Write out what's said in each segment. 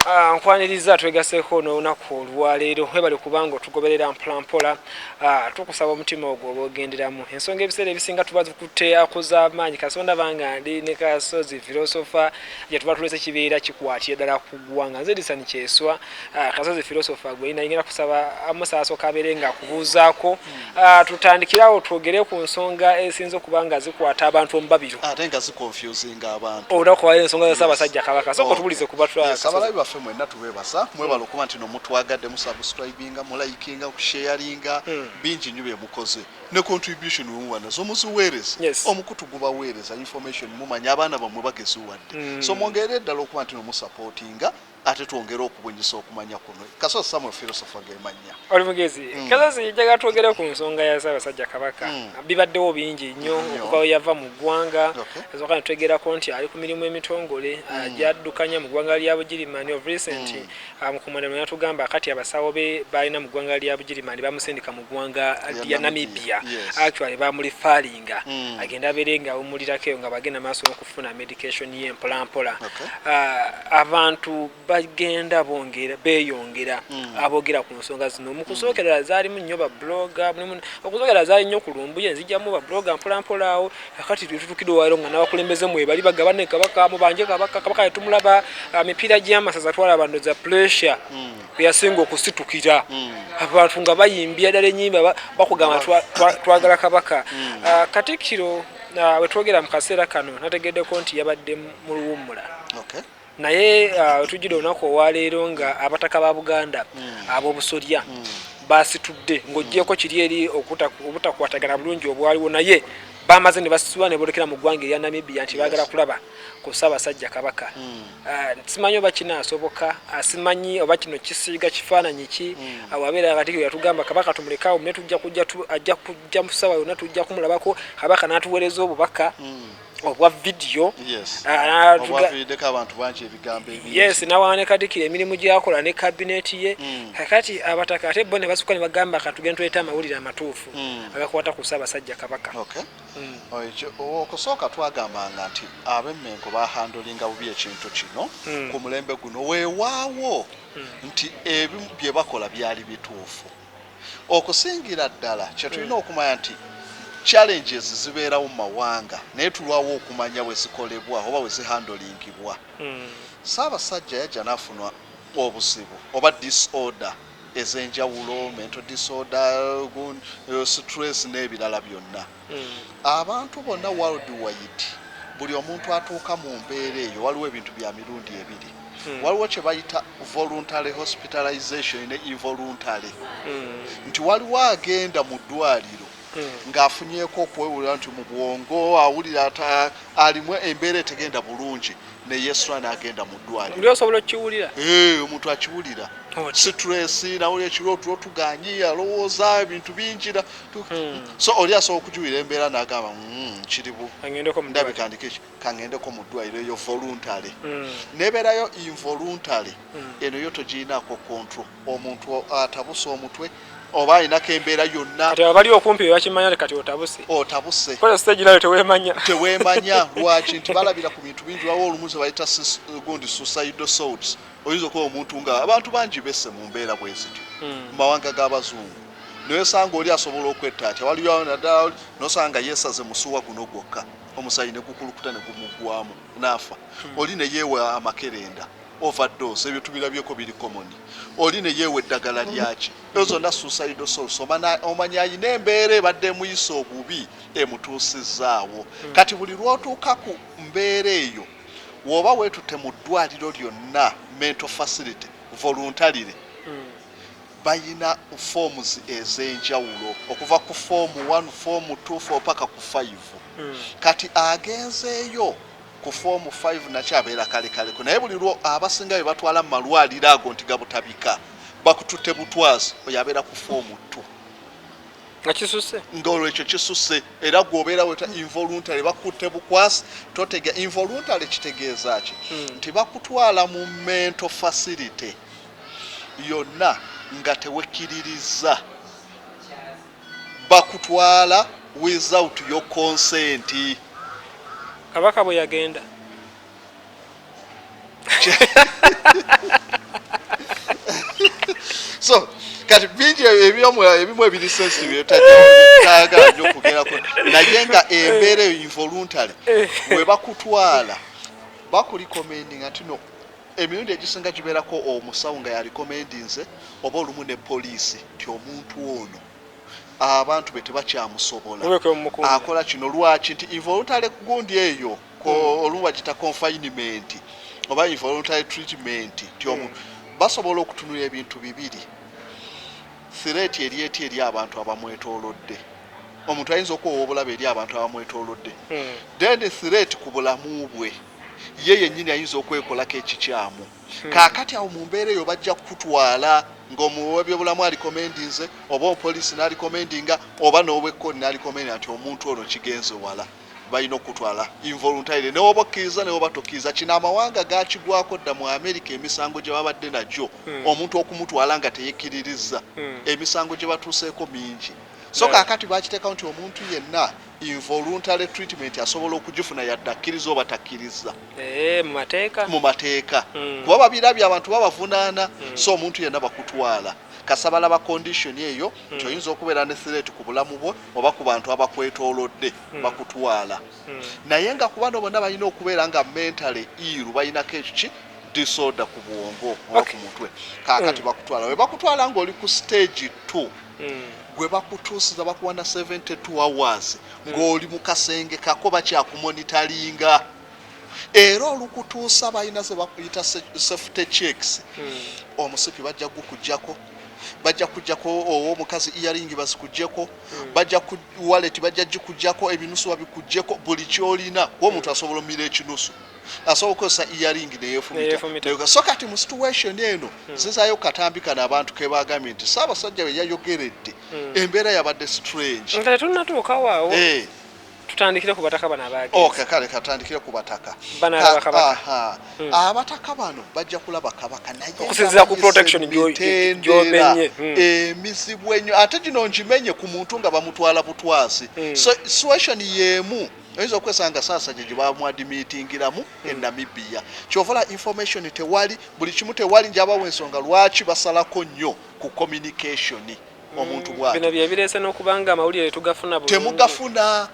Ah, nkwaniriza twegaseko n'olunaku olwaleero webale kubanga otugoberera mpolampola ah, tukusaba omutima ogwo oba ogenderamu ensonga ebiseera ebisinga tuba tukutte akuzamaanyi kasonda banga ndi ne kasozi filosofa gye tuba tulese kibeera kikwatira ddala ku ggwanga nze disani kyeswa ah, kasozi filosofa gwe nayingera kusaba amusaasoka abeere nga akubuuzaako Ah, tutandikirawo twogere ku nsonga esinza okuba nga zikwata abantu omubabiro ate nga zikonfusinga abantu olwokubayo ensonga za ssaabasajja kabaka soka otubulize kubaabalabi baffe mwenna tubeebasa mwebala okuba nti nomutwagadde musubscribinga mulayikinga okusheyaringa hmm. bingi nyo byemukoze ne contribution wemuba nazo muziweereza omukutu gubaweereza information mumanya abaana bamwe bageziwadde hmm. so mwongerere ddala okuba nti nomusupportinga ate twongere okubunyisa okumanya kuno kaso samuel philosopher gemanya oli mugezi mm. kasozi njaga twogere ku nsonga ya ssaabasajja kabaka mm. bibaddewo bingi nnyo mm. okuva we yava mu ggwanga okay. ezoka netwegerako nti ali ku mirimu emitongole mm. Ah, gyaddukanya mu ggwanga lya bugirimani of recent mm. Ah, mukumanano yatugamba kati abasawo be balina mu ggwanga lya bugirimani bamusindika mu ggwanga lya namibia yes. actually bamuli falinga mm. agenda abeere nga awumulirakeyo nga bagenda maaso funa medication ye mpola mpola okay. uh, abantu bagenda bongera beyongera mm. abogera ku nsonga zino mukusokerera mm. zalimu nnyo ba blogger mulimu okusokerera zali nnyo ku lumbuye nzijamu ba blogger mpola mpola awo akati tutukide walo nga nabakulembeze mwe bali bagabane kabaka mu banje kabaka kabaka yatumulaba uh, mipira gyamasaza twala bando za pressure mm. yasinga okusitukira mm. abantu nga bayimbya dala enyimba bakugamba twagala kabaka mm. uh, katikiro uh, wetwogera mu kaseera kano nategeddeko nti yabadde mu luwummula okay. naye uh, wetujjira olunaku olwaleero nga abataka ba buganda mm. ab'obusolya mm. basitudde ng'ogyeko kiri eri obutakwatagana bulungi obwaliwo naye bamaze ne basitula ne bolekera mu ggwanga erya namibia nti bagala kulaba ku Ssaabasajja Kabaka. Simanyi oba kinaasoboka, simanyi oba kino kisiiga kifaananyi ki, awo abeera Katikkiro yatugamba Kabaka tumuleke awo naye tujja kujja tu, ajja kujja mu ssaawa yonna tujja kumulabako, Kabaka n'atuweereza obubaka obwa vidiyo, n'atuga, yes, n'awa ne Katikkiro emirimu gy'akola ne kabineeti ye, kaakati Abataka ate bo ne basukka ne bagamba katugende tuleete amawulire amatuufu agakwata ku Ssaabasajja Kabaka. Okusooka twagambanga nti ab'e Mmengo baahandolinga bubi ekintu kino ku mulembe guno. Weewaawo nti ebimu bye bakola byali bituufu. Okusingira ddala kye tulina okumanya nti challenges zibeerawo mu mawanga naye tulwawo okumanya we zikolebwa oba we zihandolingibwa. Ssaabasajja yajja n'afuna obuzibu oba disorder. ez'enjawulo, mental disorder, stress n'ebirala byonna. Hmm. Abantu bonna world wide buli omuntu atuuka mu mbeera eyo waliwo ebintu bya mirundi ebiri. Hmm. waliwo kye bayita voluntary hospitalization ne involuntary hmm. nti waliwo agenda mu ddwaliro hmm. ng'afunyeeko okwewulira nti mu bwongo awulira alimu embeera etegenda bulungi ne yesula n'agenda mu ddwaliro osobola okukiwulira eh, omuntu akiwulira situlesi nawulira ekirooto otuganyi alowooza ebintu bingira hmm. so oli asobola okukiwulira embeera n'agamba hmm, kiribu ndabikandika eki kangendeko mu ddwaliro eyo voluntary nebeerayo involuntary eno yo togirinaako control omuntu atabuse omutwe oba alinako embeera yonna kati abali okumpi bebakimanya kati otabuse otabuse kola stage nayo tewemanya tewemanya lwaki nti balabira ku bintu bingi wawo olumu zebayita gundi suicide souls oyinza okuba omuntu nga abantu bangi bese mu mbeera bwezityo hmm. mu mawanga g'abazungu newesanga oli asobola okwetta atya waliyo naddala nosanga yesaze musuwa guno gwokka omusayi negukulukuta negumugwamu naafa hmm. oli neyewa amakerenda over dose ebyo tubirabyeko biri common oli neyeewa eddagala lyaki ezo zonna suicide source omanya ayina embeera ebadde emuyisa obubi emutuusizaawo hmm. kati buli lwotuuka ku mbeera eyo woba wetutte mu ddwaliro lyonna mental facility voluntarily hmm. bayina forms ezenjawulo okuva ku form 1 form 2 4 paka ku 5 hmm. kati agenzeeyo Ku form five nakyo abeera kalekaleko naye buli lwo abasinga bebatwala mumalwaliro ago nti gabutabika bakutute butwazi oyo abeera ku form two nga kisuse nga olwo ekyo kisuse era gwobeera weta involuntary bakutte bukwasi totega involuntary kitegeeza ki hmm. nti bakutwala mu mental facility yonna nga tewekiririza Bakutwala without your consent. Kabaka bwe yagenda. So, kati bingi ebimu ebimu ebiri sensitive etajaaga nyo kugerako naye nga embeera eyo involuntary eh. webakutwala bakulikomendinga tino Emirundi egisinga gibeerako omusawo nga y'alikomendinze oba olumu ne poliisi nti omuntu ono abantu be tebakyamusobola. Akola kino lwaki? Nti involuntary gundi eyo hmm. olumu bagiyita confinement oba involuntary treatment nti omu hmm. basobola okutunula ebintu bibiri sireeti eri eti eri abantu abamwetoolodde omuntu ayinza okuwa obulabe eri abantu abamwetoolodde hmm. then sireeti ku bulamu bwe ye yennyini ayinza okwekolako ekikyamu. Hmm. Kaakati awo mu mbeera eyo bajja kukutwala ng'omuwi w'ebyobulamu alikomendinze oba omupoliisi n'alikomendinga oba n'owekkooti n'alikomendinga nti omuntu ono kigenze wala balina okukutwala involuntarily newoba okkiriza newoba tokkiriza kino amawanga gakigwako dda mu amerika emisango gye babadde nagyo hmm. omuntu okumutwala nga teyekkiririzza hmm. emisango gye batuuseeko mingi so kaakati bakiteekawo nti omuntu yenna Involuntary treatment asobola okugifuna yadde akkiriza oba takkiriza eh, mu mateeka hmm. kuba babirabye abantu babavunaana hmm. so omuntu yenna bakutwala kasabala ba condition eyo hmm. nti oyinza okubeera ne threat ku bulamu bwo oba ku bantu abakwetoolodde bakutwala naye nga ku bano bonna balina okubeera nga mentally iru balinako ekiki disorder ku bwongo oba ku mutwe kakati bakutwala webakutwala ngaoli ku stage 2 Gwe bakutuusiza bakuwa na 72 hours ng'oli mu kasenge kako bakyakumonitalinga era olukutuusa balina ze bakuyita safety checks hmm. omusipi bajja gukujjako bajja kujjako owo omukazi earingi bazikugyeko hmm. bajja ku wallet bajja gikujjako ebinusu babikugyeko buli kyolina kuba omuntu asobola omira ekinusu asobola okukozesa earing neyefumita so kati mu situation eno hmm. zizayo katambi kano abantu kebagambye nti saabasajja we yayogeredde hmm. embeera yabadde strange nga tetunatuukawoawo eh. tutandikire ku bataka bano abaagee kale katandikire ku bataka hmm. abataka bano bajja kulaba kabaka nayeokusinzira ku protection gyomenye emizibu enyo ate gino ngimenye ku muntu nga bamutwala butwazi so situation yemu oyinza okwesanga sasajja gye bamwadimitingiramu hmm. e namibia kyovala information tewali buli kimu tewali njabawo ensonga lwaki basalako nnyo ku communication hmm. omuntu bwati bino byebireese n'okuba nga amawulire tugafuna temugafuna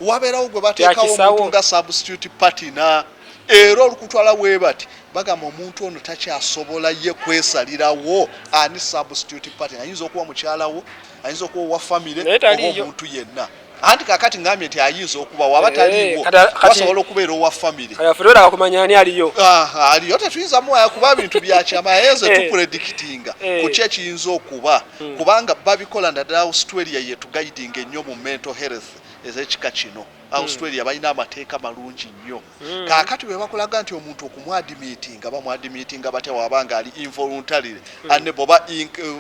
wabeerawo gwe bateekawo omuntu nga substitute patina era olukutwala webati bagamba omuntu ono takyasobola ye kwesalirawo ani substitute patina ayinza okuba mukyalawo ayinza okuba owa famire oba omuntu yenna anti kakati ngambye nti ayinza okuba waba eh, taliwo basobola okubeera owa familyfeera kumanya ani aliyo ah, aliyo tetuyinza muwaya kuba bintu byakyama yenze eh. tupredikitinga eh. kuki ekiyinza okuba hmm. kubanga babikola naddala australia yetugaidinga ennyo mu mental health ezekika kino hmm. australia balina amateeka malungi nnyo hmm. kakati bwebakulaga nti omuntu okumwadimitinga bamwadimitinga batya waba nga ali involuntarily aneboba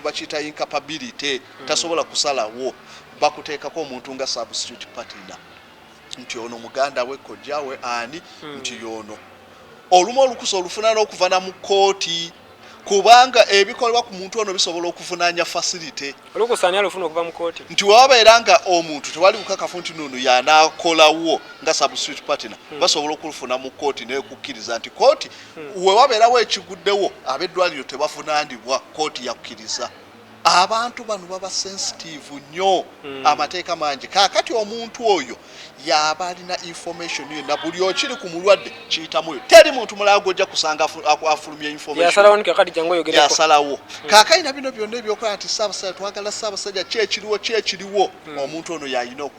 bakiyita incapability tasobola kusalawo bakuteekako omuntu nga substitute partner nti ono muganda we kojja we ani hmm. nti yono olumu olukusa olufuna n'okuvana mu kkooti kubanga ebikolebwa ku muntu ono bisobola okuvunanya facility olukusa ani alufuna okuva mu kkooti nti wababeera nga omuntu tewali bukakafu nti nono yanakolawo nga substitute partner hmm. basobola okulufuna mu kkooti nekukkiriza nti kkooti hmm. wewabeerawo ekiguddewo ab'eddwaliro tebavunanibwa kkooti yakkiriza Abantu bano baba sensitive nyo mm. Amateeka mangi kakati omuntu oyo yaba alina information yona buli okiri ku mulwadde kiyitamuyo teri muntu mulala gwoja kusanga afulumya informationyasalawo mm. kakalina bino byonna ebyokola nti saabasajja twagala saabasajja kyekiriwo kyekiriwo mm. omuntu ono yalina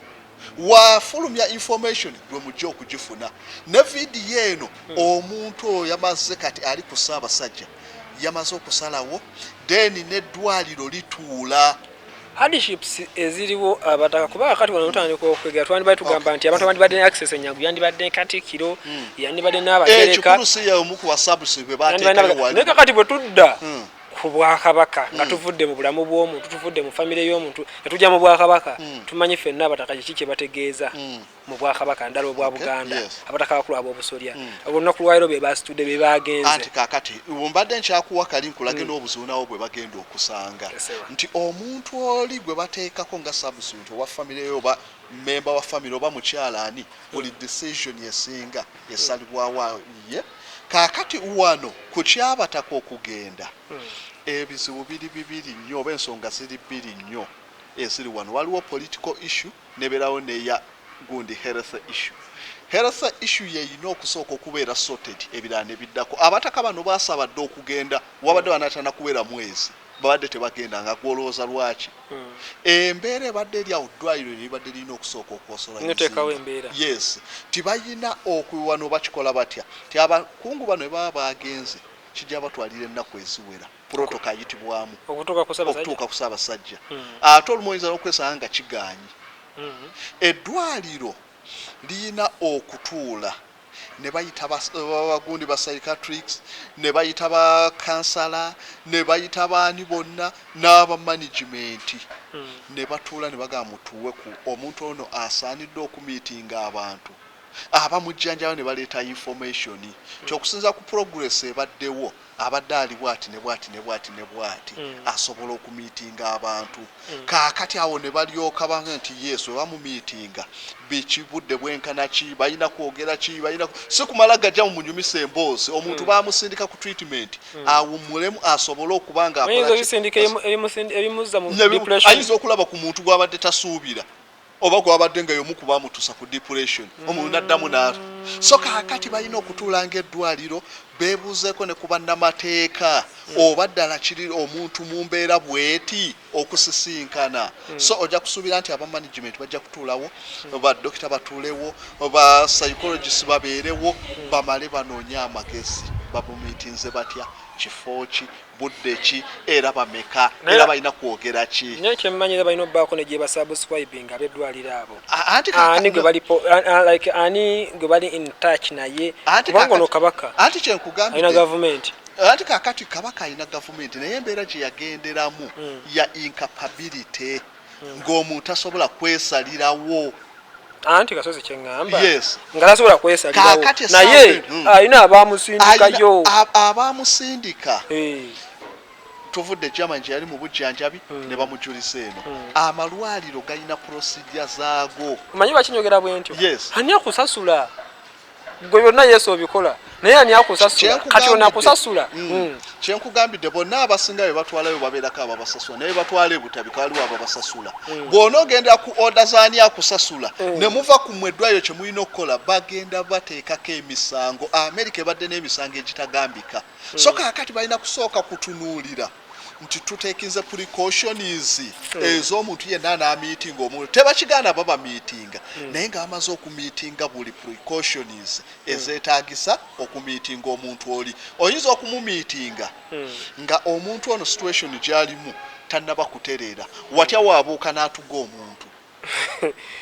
wafulumya information lwe mujja okugifuna ne vidiyo eno hmm. omuntu oyo yamaze kati ali ku ssaabasajja yamaze okusalawo then neddwaliro lituula hardships eziriwo abataka kuba kati wano tutandika okwegera twandibadde tugamba nti abantu abandibadde ne access enyangu yandibadde ne katikiro hmm. yandibadde n'abagereka eh, naye kakati bwe tudda hmm. ku bwakabaka nga mm. tuvudde mu bulamu bw'omuntu tuvudde mu famire y'omuntu nga tujja mu bwakabaka mm. tumanyi fenna abataka kiki kye bategeeza mm. mu bwakabaka ndala obwa buganda abataka bakulu ab'obusolya olunaku lwaliro be basitudde be bagenze kakati mbadde nkyakuwa kali nkulage n'obuzuunawo bwe bagenda okusanga nti omuntu oli gwe bateekako nga subsint owa famire yo oba memba wa famire oba mukyala ani buli decision esinga esalibwawo ye Kaakati, wano ku ky'Abataka okugenda, ebizibu biri bibiri nnyo, oba ensonga ziri bbiri nnyo eziri wano. Waliwo political issue, n'ebeerawo n'eya gundi health issue. Health issue y'erina okusooka okubeera sorted, ebirala ne biddako. Abataka bano baasaba dda okugenda, wabadde banaatera na kuwera mwezi. babadde tebagenda nga gwe olowooza lwaki embeera ebadde eri awo ddwaliro lye libadde lirina okusooka okwosola mizinga yes tibalina okuwano bakikola batya ti abakungu bano ebaba baagenze kijja batwalira ennaku eziwera purotoka ayitibwamu okutuuka ku saabasajja hmm. ate olumu oyinza n'okwesanga nga kigaanyi hmm. eddwaliro lirina okutuula ne bayita bagundi ba psychiatrics ne bayita ba kansala ne bayita baani bonna n'aba management hmm. ne batuula ne bagaa mutuwe ku omuntu ono asaanidde okumiitinga abantu abamujjanjaba ne baleeta information hmm. kyokusinza ku progress ebaddewo mm. Abadde ali bwati ne bwati ne bwati ne bwati asobola okumiitinga abantu. Kaakati awo ne balyoka ba, nti, Yes, bwe bamumiitinga, biki, budde bwenkana ki, balina kwogera ki, balina, si kumala gajja mu munyumisa emboozi. Omuntu bamusindika ku treatment, awummulemu, asobole okuba nga akola ki, as, ne bimu, ayinza okulaba ku muntu gw'abadde tasuubira. oba gwabadde nga yomu kubamutusa ku depuration omuntu naddamu naatu so kakati balina okutuula nga eddwaliro bebuuzeeko ne kubannamateeka oba ddala kiri omuntu mumbeera bweti okusisinkana so ojja kusuubira nti aba management bajja kutuulawo ba dokita batuulewo ba psychologist babeerewo bamale banoonye amagezi babumitinze batya kifo ki budde ki era bameka era balina kwogera ki naye kyemmanyi era balina obbaako ne gyebasubscribing abeddwaliro abo ani gwe bali like ani gwe bali in touch naye kubanga ono kabaka anti kyenkugambye alina gavumenti anti kakati kabaka alina gavumenti naye embeera gye yagenderamu hmm. ya incapability ng'omuntu tasobola kwesalirawo anti kasozi kyeŋŋamba nga tasobola kwesalirawo naye hmm. alina abaamusindikayo abaamusindika eh. tuvudde germany gyeyali mu bujjanjabi hmm. ne bamujulisa eno hmm. amalwaliro galina procedure zaago omanyi bakinyogera bwentyo ani akusasula gwe byonna yesu obikola naye ani akusasula kati ona akusasula mm. mm. kyenkugambidde bonna abasinga be batwalayo babeerako ababasasula naye batwala ebutabika waliwo ababasasula mm. bwona ogenda ku oda zaani akusasula ne muva ku mwe eddwayo kye mulina okukola bagenda bateekako emisango amerika ebadde n'emisango egitagambika so kakati balina kusooka kutunuulira nti tutekinze precautions hmm. ez'omuntu yenna anamiitinga omuntu tebakigaana baba miitinga hmm. naye nga bamaze okumiitinga buli precautions hmm. ezetagisa okumiitinga omuntu oli oyinza okumumiitinga nga omuntu ono situation gyalimu tannaba kutereera watya wabuuka n'atuga omuntu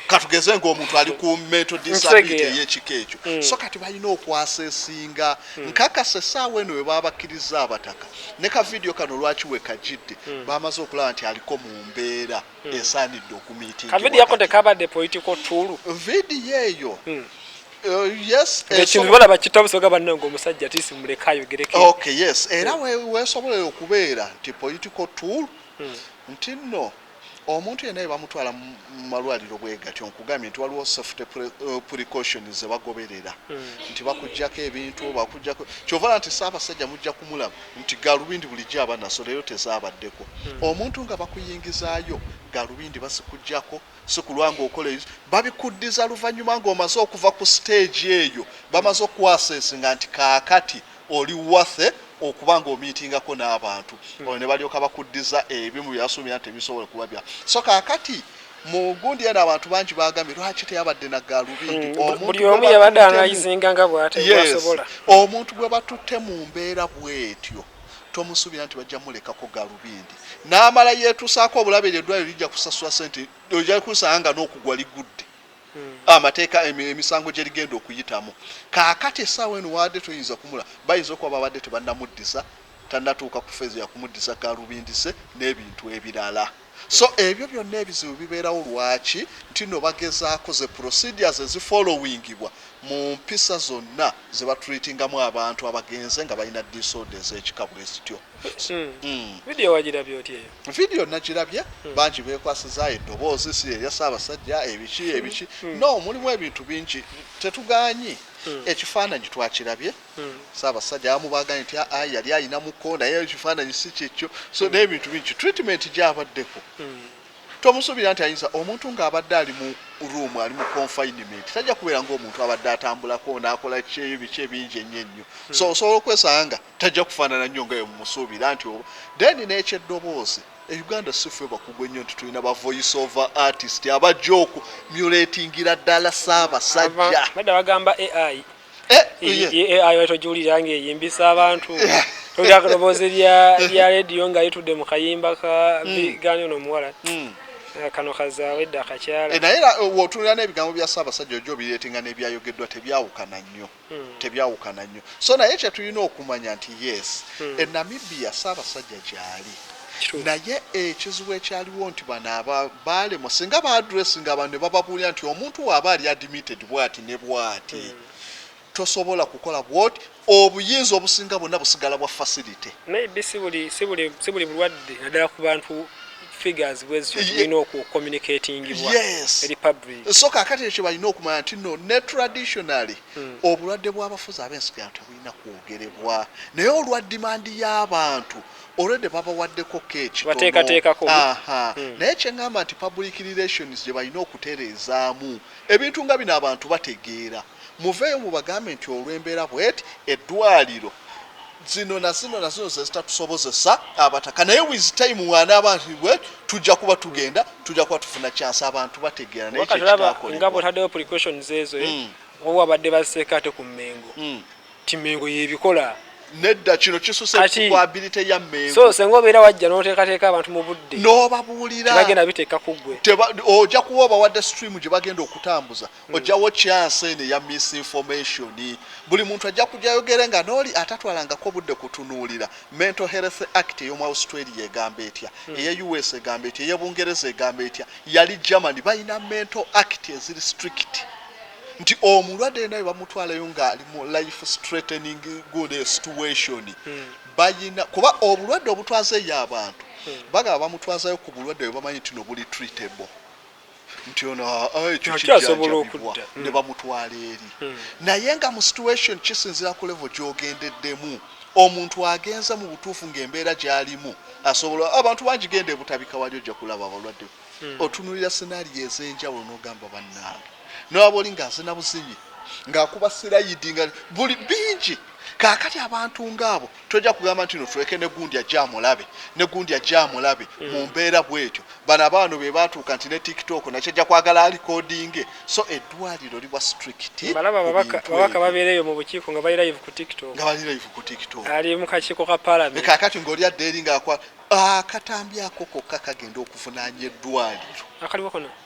katugeze ngaomuntu ali ku metodisability eyekika ekyo mm. so kati balina okwasa esinga mm. nkakasa esaawa eno webabakkiriza abataka ne ka vidiyo kano lwaki wekajidde mm. bamaze okulaba nti aliko mu mbeera esaanidde okumitinvidiyo eyo Uh, yes ekintu eh, balaba kitabusoga bannange omusajja tisi muleka ayogereko okay yes era wesobola okubeera nti political tool hmm. nti nno Omuntu yenna bwebamutwala mu malwaliro bwegatyo nkugambye nti waliwo safety precautions zebagoberera nti bakujjako ebintu bakujjako kyova olaba nti Ssabasajja mujja kumulaba nti galubindi bulijjo aba naso leero tezabaddeko omuntu nga bakuyingizaayo galubindi bazikujjako sikulwa nga okola ebiso babikuddiza luvanyuma nga omaze okuva ku stage eyo bamaze okuku assessinga nti kakati Oli worth okuba nga omiitingako n'abantu olwo ne balyoka bakuddiza ebimu bye wasuubira nti tebisobola kuba bya so. Kaakati mu gundi eno abantu bangi baagambye lwaki teyabadde na gaalubindi omuntu gwe batuttemu. Yes. Omuntu gwe batutte mu mbeera bw'etyo tomusuubira nti bajja mulekako gaalubindi n'amala yeetusaako obulabe eryo eddwaaliro lijja kusasula ssente ojja kusanga nga n'okugwa ligudde. Hmm. amateeka emisango gye ligenda okuyitamu kaakati essaawa eno waadde toyinza kumula bayinza okuba babadde tebannamuddiza tannatuuka ku feezo yakumuddiza galubindise n'ebintu ebirala so hmm. ebyo byonna ebizibu bibeerawo lwaki nti no bagezaako ze procedures ezifollowingibwa mu mpisa zonna ze batreatingamu abantu abagenze nga balina disorder ez'ekika bwe zityo Hmm. Hmm. vidiyo wagirabye otya eyo vidiyo nagirabye hmm. bangi bekwasiza eddoboozi si erya ssaabasajja ebiki ebiki no mulimu ebintu bingi tetuganyi ekifaananyi twakirabye ssaabasajja abamu baganye nti aa yali ayinamuko naye ekifaananyi si kyekyo so n'ebintu bingi treatment gyabaddeko tomusuubira nti ayinza omuntu ng'abadde ali mu room ali mu confinement tajja kubeera ngaomuntu abadde atambulako naakola kyeyo biki ebingi ennyo ennyo so osobola okwesanga Tajja kufaanana nnyo nga bwe mumusuubira nti oba. Then n'ekyeddoboozi, e Uganda si ffe bakugu ennyo nti tulina ba voice over artist abajja oku mulatingira ddala Ssaabasajja. Nedda bagamba AI. Eh, iye. Ye AI wali togiwulira ng'eyimbisa abantu. Towulira akadoboozi lya lya leediyo nga yitudde mu kayimba ka bigaani ono omuwala. Eh, Kano kazaawa edda akakyala. Eh, Naye era eh, w'otunulira n'ebigambo bya Ssaabasajja ojja obireetinga n'ebyayogeddwa tebyawukana nnyo. hmm. tebyawukana nnyo so naye kyetulina okumanya nti yes hmm. e namibia saabasajja gyali naye ekizibu ekyaliwo nti bano aba baalemo singa baadresi nga abantu ne bababuulira nti omuntu waaba ali admitted bwati ne bwati hmm. tosobola kukola bwoti obuyinza obusinga bwonna busigala bwa facility maybe si buli bulwadde naddala ku bantu figures bwezityo tulina oku communicatingibwa yes. eri public so kakati ekyo balina okumanya nti no ne traditionally mm. obulwadde bw'abafuzi ab'ensigano tebulina kwogerebwa naye olwa dimandi y'abantu olwedde babawaddeko keekitonobateekateekako hmm. naye kyeŋŋamba nti public relations gye balina okutereezaamu ebintu nga bino abantu bategeera Muveeyo mubagambe nti olw'embeera bweti eddwaliro zino na zino na zino zezitatusobozesa abataka naye with time wanaaba nti bweti tujja kuba tugenda tujja kuba tufuna chance abantu bategeera naye kyekitakolebwa. Nga bwotaddewo precautions ezo eh? Mm. Oba wabadde baziseeko ate ku Mengo. Mm. Ti Mengo yebikola. Nedda kino kisuse ku ability ya Mengo. So senga obeera wajja n'oteekateeka abantu mu budde. N'obabuulira. Tebagenda biteeka ku ggwe. Oja kuwa obawadde stream gye bagenda okutambuza. Hmm. ojjawo chance eno eya misinformation buli muntu ajja kujayogere nga nooli atatwalangako budde kutunuulira mental health act eyomu australia egamba etya hmm. eye us egamba etya eye bungereza egamba etya yali germany balina mental act eziri strict nti omulwadde naye bamutwalayo ngaali mu life straightening good situation hmm. bayina kuba obulwadde obutwaza eyo abantu bagaba bamutwazayo ku bulwadde bwebamanyi nti nobuli treatable nti ono ah, ah, ekyo kijjanjabibwa hmm. ne bamutwala eri hmm. naye nga mu situation kisinzira ku levo gyogendeddemu omuntu agenza mu butuufu ng'embeera gy'alimu asobola abantu bangi genda ebutabika wali ojja kulaba abalwadde hmm. otunulira senario ez'enjawulo n'ogamba bannange newaba oli ng'azina buzinyi ng'akuba sirayidi nga buli bingi kaakati abantu ng'abo Tojja kugamba nti no tuleke ne gundi ajje amulabe, ne gundi ajje amulabe mm. mu mbeera bwetyo. Bano abaano be baatuuka nti ne TikTok nakyo ajja kwagala alikodinge. So eddwaliro liba strict. Malaba ababaka babeera eyo mu bukiiko nga bali live ku TikTok. Nga bali live ku TikTok. Ali mu kakiiko ka palamenti. Kaakati ng'oli adda eri ng'akwa akatambi ako kokka kagenda okuvunaanya eddwaliro. Akaliwo kono.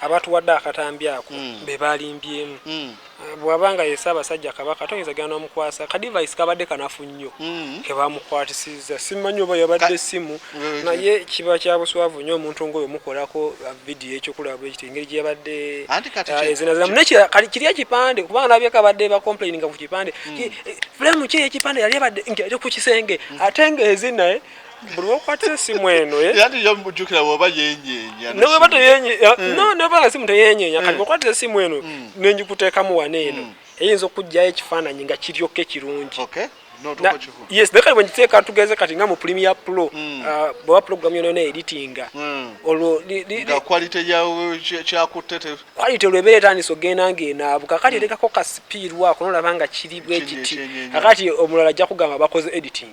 abatuwadde akatambi ako mm. be balimbyemu mm. eh, bwaba nga ye Ssaabasajja Kabaka toyinza genda n'omukwasa kadivayisi kabadde kanafu nnyo mm. ke bamukwatisizza simanyi oba yabadde essimu mm. naye kiba kya buswavu nnyo omuntu ng'oyo mukolako uh, vidiyo ekyokulaba ekiti engeri gye yabadde uh, ezinaziramu nekira kali kiri ekipande kubanga nabyeko abadde bacomplaininga ku kipande mm. eh, fulamu ki ekipande yali abadde nti ali ku kisenge mm. ate ng'ezinaye buli wokwatira esimu eno eh? neweba teyenyenya mm. no neweba nga simu teyenyenya kati mm. okwatira esimu eno mm. nenjikuteekamu wano eno eyinza okujjayo ekifaananyi nga kiryoke kirungi yes naye kati bwengiteeka tugeze kati nga mu premier pro hmm. uh, bweba program yonayona editinga hmm. olwo quality olwebeera etandisa ogenda ngaenaabuka kati hmm. etekako ka sipiirwako nolaba nga kiri bwekiti akati omulala ajja kugamba bakoze editing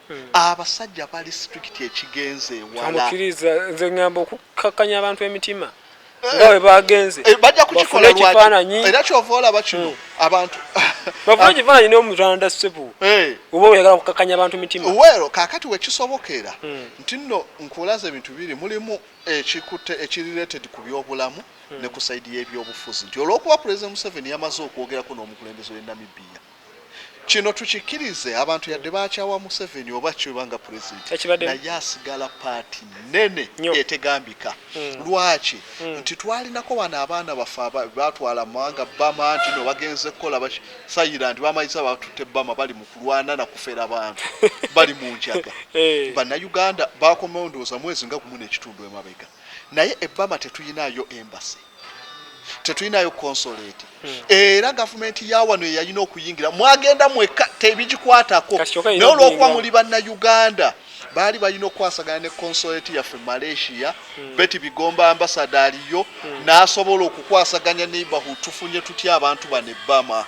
Hmm. abasajja bali strict ekigenze ewalaamukiriza nze ngamba okukakkanya abantu emitima eh, nga bwe bagenze eh, bajja kukikola ekifaananyi era kyova olaba kino hmm. abantu bafuna ah. ekifaananyi n'omutanda ssebo eh. oba oyagala kukakkanya abantu mitima weero kaakati wekisobokera hmm. nti nno nkulaza ebintu biri mulimu ekikutte ekirireted ku byobulamu ne ku saidi y'ebyobufuzi nti olw'okuba pulezidenti museveni yamaze okwogerako n'omukulembeze w'e namibiya Kino tukikirize abantu yadde bakyawa museveni oba ki webanga president naye asigala part nene etegambika mm. lwaki mm. nti twalinako wano abaana baffe batwala mawanga bama nti no bagenze kukola basayira nti bamayiza batute bama bali mukulwana nakufera abantu bali munjaga eh. banauganda bakomewo ndowooza mwezi nga gumu nekitundu emabega naye ebama tetuyinayo embassy tetulinayo consolate hmm. era gavumenti yawano yeyalina okuyingira mwagenda mweka tebigikwatako naye olwokuba muli banna uganda baali balina okukwasagana ne consolate yaffe malaysia hmm. beti bigomba ambasada aliyo hmm. nasobola okukwasaganya neighborhood tufunye tutya abantu bano ebbama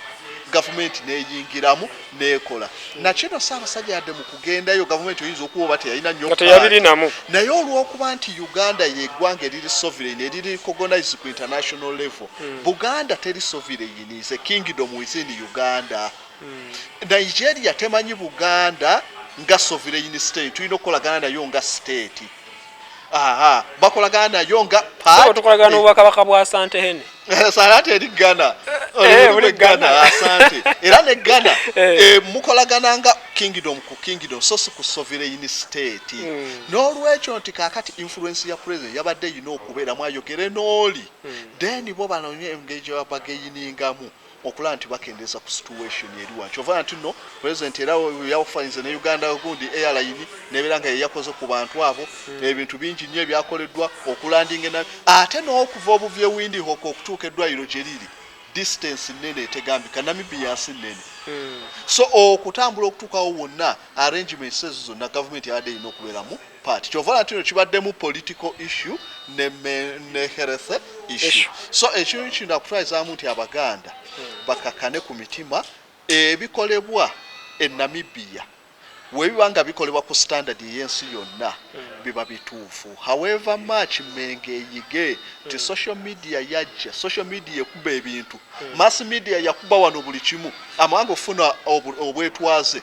gavumenti neyingiramu nekola hmm. nakyo no Ssaabasajja yadde mu kugendayo gavumenti oyinza okuba oba teyalina nyo teyabirinamu naye olw'okuba nti Uganda yeggwanga eriri sovereign eriri recognized ku international level hmm. Buganda teri sovereign is a kingdom within Uganda hmm. Nigeria temanyi Buganda nga sovereign state tulina okukolagana nayo nga state bakolagana nayo nga pati tukolagana n'obwakabaka bwa sante hene eh, sarati eri ghana eh, eh, ghana asante era ne ghana mukolagana nga kingdom ku kingdom so si ku sovereign state hmm. n'olwekyo nti kakati influence ya president yabadde erina okubeeramu ayogere n'oli hmm. then bo banonye engeri gyebabageyiningamu okulaba nti bakendeeza ku situation eriwa kyova nti no president era yawufanyiriza ne uganda gundi airline nebeera nga yeyakoze ku bantu abo hmm. ebintu bingi nnyo ebyakoleddwa okulandinga na ate n'okuva obuvye windi hoko okutuuka eddwaliro gye liri distance nnene etegambika namibia nsi nnene hmm. so okutambula okutuukawo wonna arrangements ezo zonna gavumenti yabadde erina okubeeramu part kyova olaba kino kibaddemu political issue ne, ne health issue so ekintu kino nakutwalizamu nti abaganda bakakane ku mitima ebikolebwa e namibia webiba nga bikolebwa ku standard eyensi yonna biba bituufu however much menga eyige nti social media yajja social media ekuba ebintu mass media yakuba wano buli kimu amawanga okufuna obwetwaze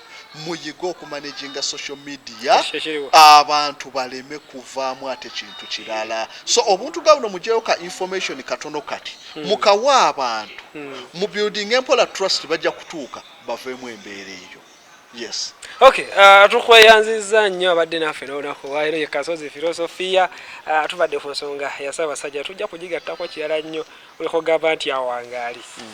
muyige okumanaginga social media abantu baleme kuvaamu ate kintu kirala so obuntu gabno mujeyo ka information katono kati hmm. mukawa abantu hmm. mu building empola trust bajja kutuuka baveemu embeera eyo yes okay uh, tukweyanziza nnyo abadde naffe nolunaku lwalero ye kasozi filosofiya uh, tubadde ku nsonga yasaba basajja tujja kugigattako kirala nnyo olikogamba nti awangaali mm.